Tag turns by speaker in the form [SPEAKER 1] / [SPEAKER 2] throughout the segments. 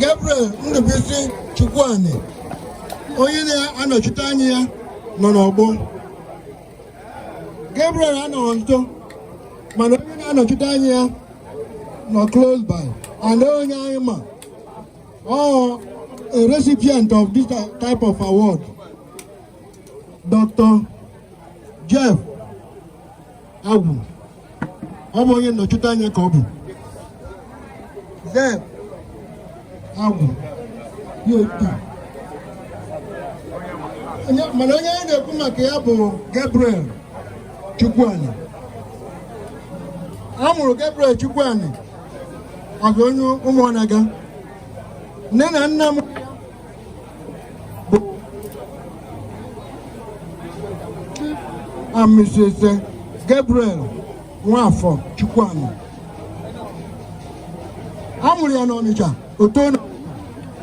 [SPEAKER 1] Gabriel Ndubuisi Chukwuani onye na-anọchite anya ya nọ n'ọgbọ Gabriel anọghị nso mana onye na-anọchite anya ya nọ close by and onye anyị ma ọ a recipient of this type of award Dr. Jeff Agwu ọ bụ onye nnọchite anya ka ọ bụ Jeff Agwu ya otu a. Onye- mana onye anyị na-ekwu maka ya bụ Gabriel Chukwuani a mụrụ Gabriel Chukwuani ọzọ onye Ụmụọnaga nne na nna m and Mrs. Eh, Gabriel Nwafọ Chukwuani. A mụrụ ya n'Ọnịcha o to na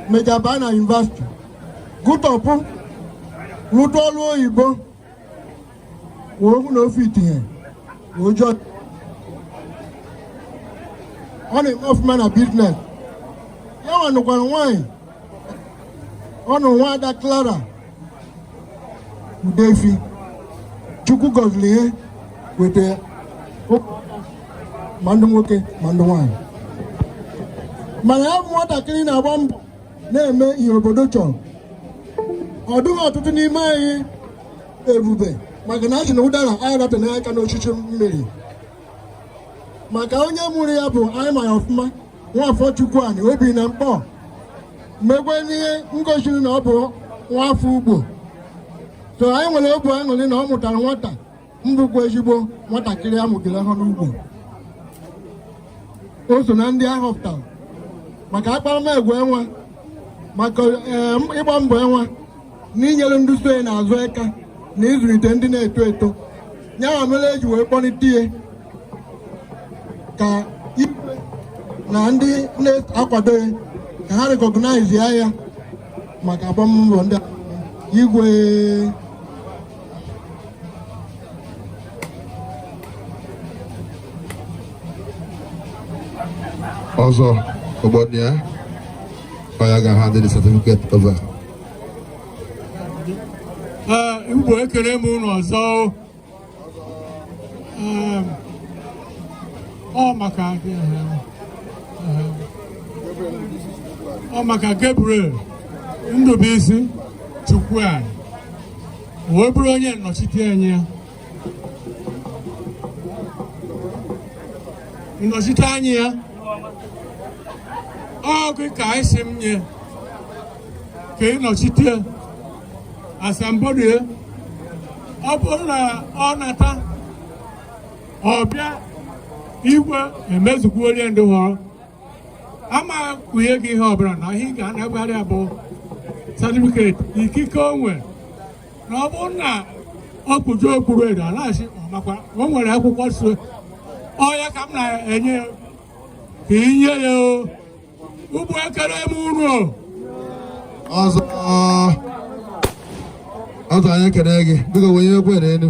[SPEAKER 1] mejaba na university gụtọpụ rụta ọrụ oyibo wee mụ na ofe itinye ụjọ ọ na-eme ọfụma na business ya nwa nụkwara nwaanyị ọ nụrụ nwaada Clara Udefi Chukwu gọziri ya weta ya ma ndị nwoke ma ndị nwaanyị mana ya bụ nwatakịrị na-agba mbọ na-eme ihe obodo chọrọ ọ dịghị ọtụtụ n'ime anyị ebube maka na a sị na ụdara anaghị adate aka n'osisi mịrị maka onye mụrụ ya bụ anyị ma ya ọfụma Nwafọ Chukwuani o bi na Mkpọ mekwanụ ihe gosiri na ọ bụ nwafọ Ugbo so anyị nwere obu aṅụrị na ọ mụtara nwata bụkwa ezigbo nwatakịrị a mụgere ha n'Ugbo o so na ndị a họpụtara maka akparamagwa ya nwa maka eh, ịgba mbọ ya nwa na inyere ndị so ya n'azụ aka na ịzụlite ndị na-eto eto ya nwa mere e ji wee kpọlite ya ka igwe na ndị na-akwado ya ka ha recognize ya maka agbammbọ ndị igwe ọzọ obodo ya ọ ya ga-ahand the certificate over Igwe ekele m unu ọzọ ọ maka ọ maka Gabriel Ndubuisi Chukwuani wee bụrụ onye nnọchite anya ịnọchite anya ya ọ gị ka anyị si m nye ka ị nọchite asambodo ya ọ bụrụ na ọ nata ọ bịa igwe emezukwuo ihe ndị họrọ ama kwunye gị ihe ọbụla na ihe ị ga-anagharị abụ satifiketi ikike onwe na ọ bụrụ na ọ kụjuo okpu red a na-asị ọ makwa o nwere akwụkwọ so ọ ya ka m na-enye ya ka ị nye ya o Igbo ekele m unu o ọzọ ọzọ anyị ekele gị biko wenye egwu n'elu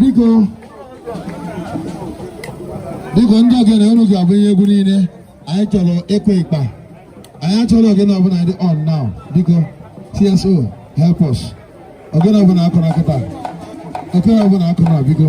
[SPEAKER 1] biko biko ndị ogene unu ga-abụ ihe egwu niile anyị chọrọ ịkụ ịkpa anyị achọrọ ogene ọbụla dị on now biko so help us ogene ọbụla akụna kịta ogene ọbụla akụna biko